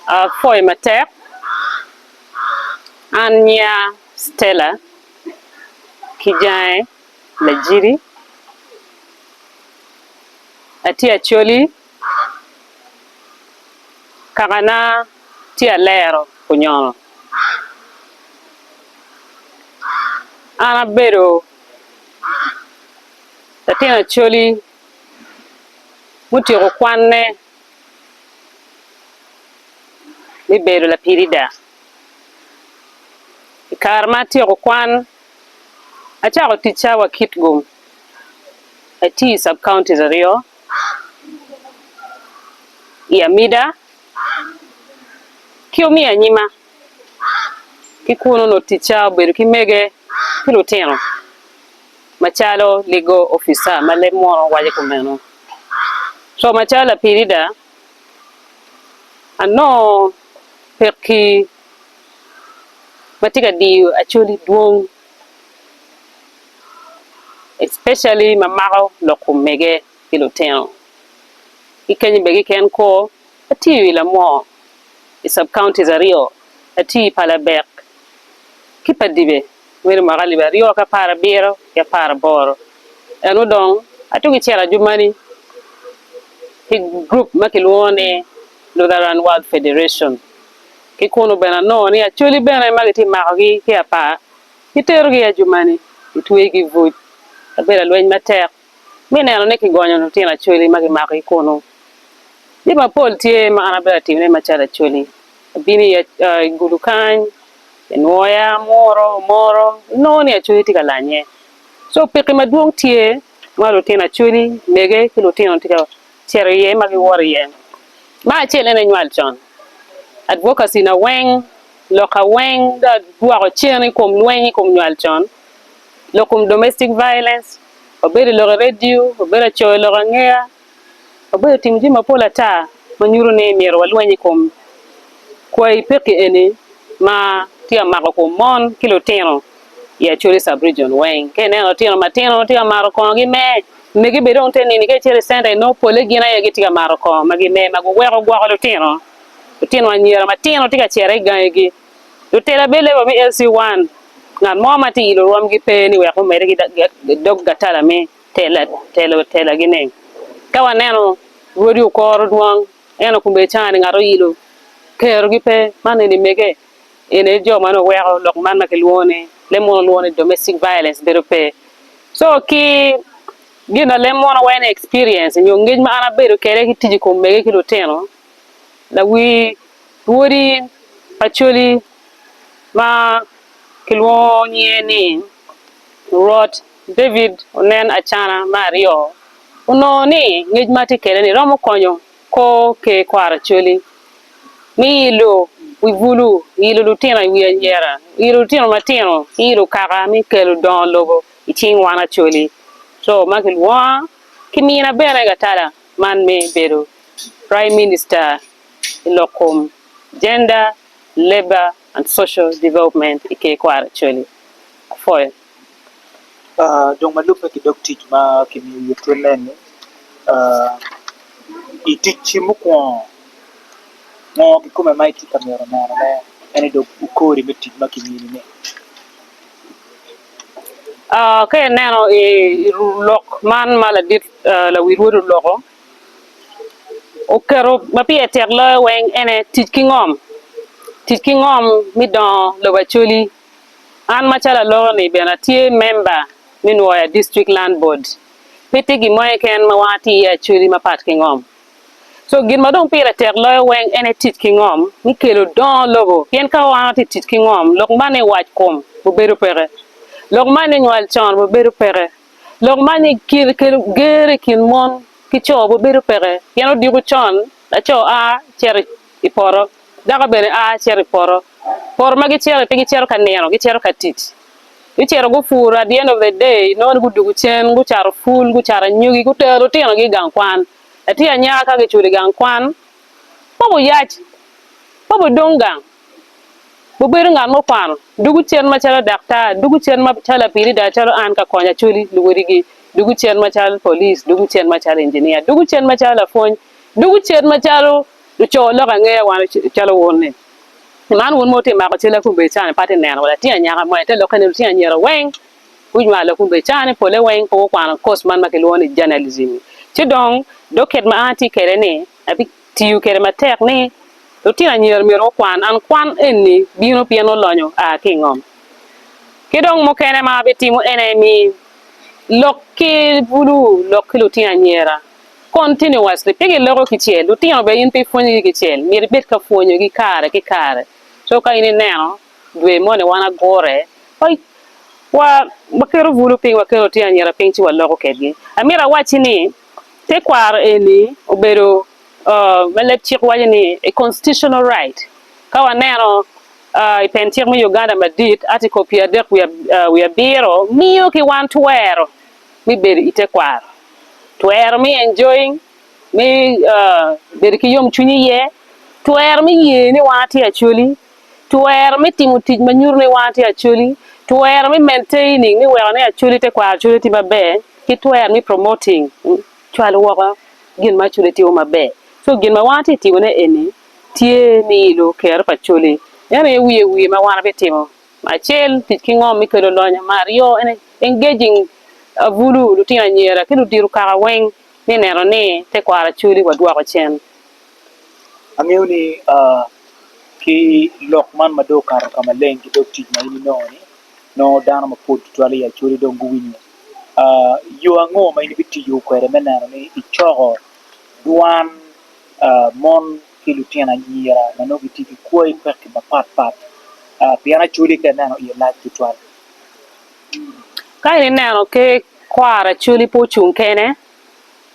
Apoyo matek, an nyiya Stella ki jange Lajiri, atye Acholi, kakana tye Alero Kunyono. An abedo latin Acholi mutyeko kwanne. me bedo lapirida. I kare ma atyeko kwan, acako ticca wa Kitgum, atye i sub counties aryo i Amida ki omiya anyima. Ki kunu onongo ticca obedo ki mege ki lutino. Macalo ligo opica ma leb munu waco kumeno, co macalo Lapirida anongo pekki ma tye ka diyo Acholi dwong especially ma mako lok omege ki lutino. Ki kenyo bene keken kor atiyo i Lamwor i sub counties aryo, atiyo i Palabek ki Padibe. Mweri mwaka alip aryo ki apar abiro ki apar aboro, en odong atugo i cel ajumani ki gurup ma kilwongo ni Lutheran World Federation. Ki kunu bene anongo ni Acholi bene ma gitye ka makogi ki i apar giterogi i ajumani gitweyogi i buc. Abedo alweny matek. me neno ni kigonyo lutino Acholi ma kimakogi kunu. Jami mapol tye ma an abedo atimone macalo Acholi, abino i i gudu kany, kinwoya, amuro, omoro, inongo ni Acholi tye ka lanye. Co pekki madwong tye ma lutino Acholi, mege ki lutino tye ka cito iye ma giwoto iye. Ma acel en aye nywal con, advocacy na weng, lokka weng dong adwoko cen i kom lweny i kom nywal con, lok kom domestic violence. wabedo lok i redio, wabedo ka coyo lok angeya, wabedo ka timo jami mapol ata ma nyuto ni myero walweny i kom kwayi pekki eni ma tye ka mako kom mon ki lutino i Acholi Sub Region weng. Ka ineno lutino matino tye ka mato kongogi me, megi bene dong te nini ka icito i centa inongo pole gin aye gitye ka mato kongo ma gime ma guweko gwoko lutino, lutino anyira matino tye ka cito i gangigi. Lutela bed level me LC one, ngat mo ma tye i lurwom gi pe ni wek omede ki dog gatala me telo tela gi ne. Ka waneno rwodi okoro dwong ento kome canga ni ngat oyilo kero gi pe man eni mege eni aye jo ma weko lok man ma ki lwongo ni leb mono lwongo ni domestic violence bedo pe. So ki gin ma leb mono weko ni experience nyo ngec ma an abedo kede ki tic i kom mege ki lutino. lawir lwodi Acholi ma kilwongo nyinge ni Rwot David onen acana me aryo, onongo ni ngec ma tye kwede-ni romo konyo kor Ker kwaro Acholi me ilo wi bulu, ilo lutino i wi anyira, ilo lutino matino ki ilo kaka me kelo dongo lobo i cing wan Acholi, co ma kilwonga ki mina bene Gatala. man me bedo Prime Minister i lok kom Gender, Labour and Social Development i ker kwaro Acholi apwoyo. Dong ma lubbe ki dog tic ma kimiyo iye tye nen ni i ticci mukwongo ngo kikome ma itye ka myero neno ne ene dog kori me tic ma kimini ni? Ka ineno i lok man ma ladit Lawil wod oloko oketo ma pire tek loyo weng ene tic ki ngom, tic ki ngom me dongo lobo Acholi. An macalo aloko ni bene atye memba me Nwoya District Land Board, pe tye gin mo keken ma wan watye iye Acholi ma pat ki ngom. Co gin ma dong pire tek loyo weng ene tic ki ngom me kelo dongo lobo pien ka wan watye ka tic ki ngom lok man ni wac kom obedo peke, lok man ni nywal con obedo peke. Lok ma ni kelo ger i kin mon ki co bene bedo peke pien odiko con laco a cito i poto, dako bene a cito i poto. Poto ma gicito iye pe gicito ka nino, gicito ka tic. Gucito gupuro at the end of the day inongo ni gudwogo cen gucato pul, gucato anyogi, gutero lutinogi i gang kwan. Latin anyaka ka kiculo i gang kwan, kobo yac, kobo dong gang. Wubedo ngat mukwano, dugu cen macalo daktar, dugu cen macalo apilida calo an ka konyo Acholi luwodigi, dugu cen macalo police, dugu cen macalo engineer, dugu cen macalo lapwony, dugu cen macalo luco lok angeya wan calo wun-ni. Pi man wun ma wutye ka mako cal akumbe cani pe atye neno wa latin anyaka mo ento lokke ni lutino anyira weng gunywalo akumbe cani pole weng pe gukwano course man ma kilwongo ni journalism-mi ci dong docket ma an atye kwede ni Tiyo kede matek ni, Lutino anyira myero gukwan an kwan eni bino pien olonyo a ki i ngom. Ki dong mukene ma abitimo en aye mi lok ki bulu lok ki lutino anyira. Continuously, pe giloko kicel. Lutino bene in pe ipwonyogi kicel, myero ibed ka pwonyogi kare ki kare. Co ka in ineno dwe moni wan agure wa wa waketo bulu piny, waketo lutino anyira piny ci waloko kedgi. Amito awacci ni, Tekwaro eni obedo ma leb cik waco ni a constitutional right. Ka waneno i pen cik me Uganda madit, Article pyer adek wiye abiro miyo ki wan twero me bedo i tekwaro, twero me enjoying, me bedo ki yomcwiny iye, twero me ye ni wan atye Acholi. Twero me timo tic ma nyuto ni wan atye Acholi, twero me maintaining me weko ni Acholi te kwaro Acholi tye maber, ki twero me promoting cwalo woko gin ma Acholi timo maber. So gin ma wan atye timo ne eni tye me ilo kero pa Acholi. Meno aye wiye wiye ma wan abi timo ma acel tic ki ngom me kelo lonyo, ma aryo en engaging abulu, lutino anyira ki ludito kaka weng me neno ni te kwaro Acholi wa dwoko cen. Angeyo ni ki lok man ma dong okato ka maleng ki dog tic ma in inongo ni nongo dano mapol tutwal i Acholi dong guwinyo, yo ango ma in ibitiyo kwede me neno ni icoko dwan mon ki lutino anyira ma nongo gitye ki kwai pekki mapat pat pien Acholi ka ineno iye lac tutwal. Ka ineno kwaro Acholi pe ocung kene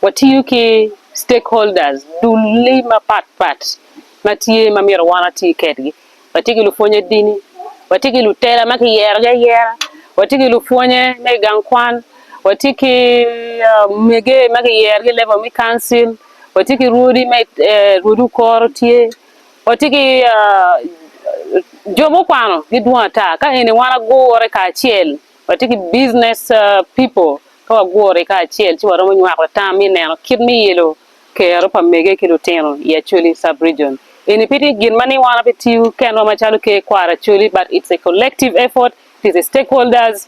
Watiyo ki stakeholders, dul-li mapat pat ma tye ma myero wan wati kedgi. Watye ki lupwonye dini, watye ki lutela ma kiyerogi ayera, watye ki lupwonye me i gang kwan, watye ki omege ma kiyerogi i level me kancil, watye ki rwodi me rwodi okoro tye, watye ki jo mukwano gidwong ata ka eni wan agure kacel. Watye ki Business People, Ka wagure kacel ci waromo nywako tam me neno kit me ilo kero pa mege ki lutino i Acholi Sub-Region. Eni pe tye gin ma ni wan pe tiyo kenwa macalo Ker Kwaro Acholi but it's a collective effort, it is a stakeholders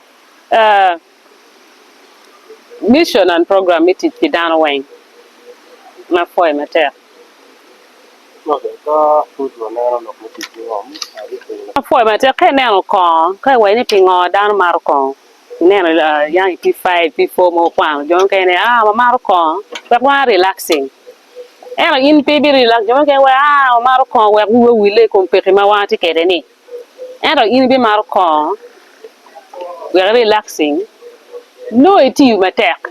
mission and program me tic pi dano weng. An apwoye matek. Apwoyo matek ka ineno kongo ka i waci ni pingo dano maro kongo ineno yang i pii five pii four mogo kwano jo mukene ni aa wamaro kongo wek wa relaxing ento in pe ibi relax jo mukene waci aa wamaro kongo wek wiwa owille i kom pekki ma watye kwede ni ento in ibimaro kongo wek i relaxing nongo itiyo matek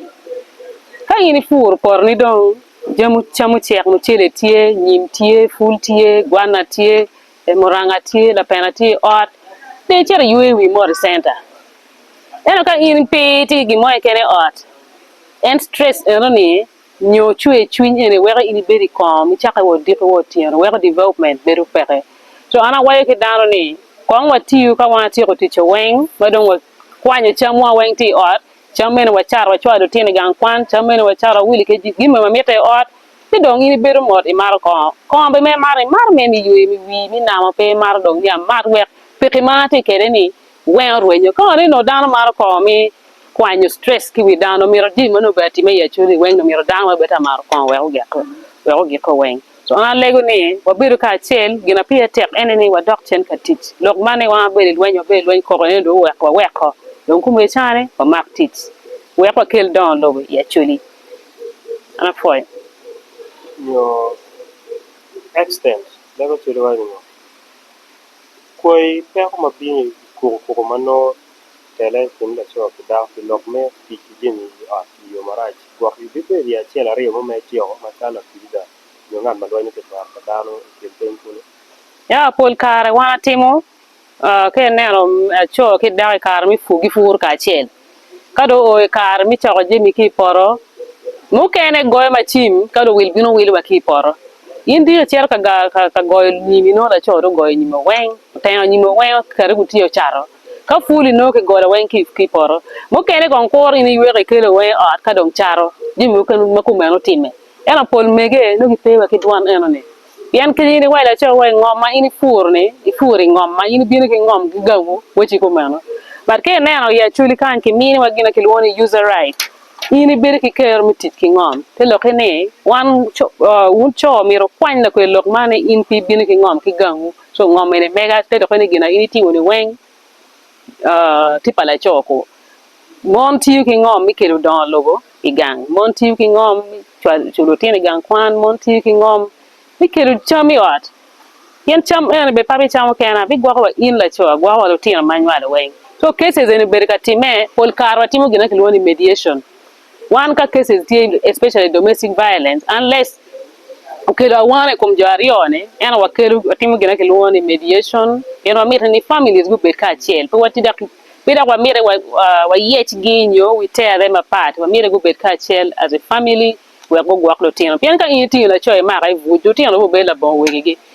ka in ipuro potoni dong. Jami cam ocek, mucele tye, nyim tye, pul tye, gwana tye, muranga tye, lapena tye i ot. Pe icito iywe i wi mot i centa. Ento ka in pe itye ki gin mo keken i ot, en stress enoni nyo cwer cwiny eni weko in ibedo i kom icako wa odiko wa otyeno weko development bedo peke. So an awaco ki dano ni kong watiyu ka watyeko ticce weng ma dong wakwanyo camwa weng tye i ot. Cam mene wacato wacwalo lutino i gang kwan, cam mene wacato wawili ki jami ma mitte i ot, ci dong in ibedo mot imato kongo. Kongo be me mato, imato me mi ywe, mi wii, mi namo, pe imato dong ni amat wek piki ma atye kwede ni wenga orwenyo. Ka waneno nongo dano mato kongo mi kwanyo stress ki wi dano, mito jami meno bene atime i acwali weng dong mito dano bene bed ta mato kongo wek ogiko weng. Wang alego ni wabedo kacel, gin ma pire tek ene ni wadok cen ka tic. Lok man ni wang abedo i lweny, wabedo i lweny koko ene dong oweko waweko dong kome icane wamak tic. Wek wakel dongo lobo i Acholi. An apwoyo. Nyo Extend leb Acholi waco ni ngo? Kwai peko ma bino i kukukuku ma nongo. tele i kin laco ki dako pi lok me tic ki jami i ot i yo marac, gwok yugi kwede i acel aryo mo ma ityeko ma calo apiida nyo ngat ma dwanyo tekwaro pa dano i kin piny kulu. Ya pol kare wan atimo ka ineno laco ki dako i kare me pur gipuro kacel ka dong oo i kare me coko jami ki i poto mukene goyo macin ka dong owil bino wilo wa ki i poto in dong icito ka goyo nyimi nongo laco dong ogoyo nyimi weng oteno nyimi weng okati gutye ocato. Ka puli nongo kigolo weng ki i poto, mukene kong kur in iywek ikele weng i ot ka dong cato jami mukene ma kome nongo timme. Ento pol mege nongo gipe wa ki dwan enoni. Pien kadi in iwaco laco wa i ngom ma in ipuro-ni, ipuro i ngom ma in ibino ki ngom ki gawu, wacci kumeno. But ka ineno i Acholi kany kimini wa gin ma kilwongo ni user right, in ibedo ki kero me tic ki ngom. Te lokke ni, wan, wun co myero wukwany lakwed lok man ni in pe ibino ki ngom ki gawu. Co ngom eni mega te dok ni gin ma in itingo ni weng tye pa laco ko. Mon tiyo ki ngom me kelo dongo lobo i gang, mon tiyo ki ngom me cwalo lutino i gang kwan, mon tiyo ki ngom me kelo cam i ot, pien cam eno ni bed pe abicamo kena bigwoko wa in laco agwoka wa lutino ma anywalo weng. Co cases eni obedo ka timme pol kare wa timo gin ma ki lwongo ni mediation. Wan ka cases tye especially domestic violence unless okelo awano i kom jo aryo ni ento wakelo watimo gin ma kilwongo ni mediation pien wamiti ni families gubed kacel pe wati dok pe dok wamiti wayec gi nyo we tear them apart wamyero gubed kacel as a family wek gugwok lutino pien ka in itingo laco imako ibuc lutino bene gubed labongo wegigi.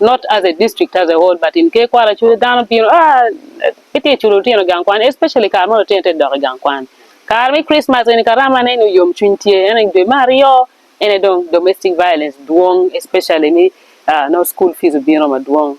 not as a district as a whole but in Ker Kwara culu dano bino aa gitye ka culo lutino gang kwan especially kare ma lutino tye ka dok i gang kwan kare me Christmas eni ka rama ne nyo yom cwiny tye ento dwe me aryo ene dong domestic violence dwong especially me aa nongo school fees obino madwong.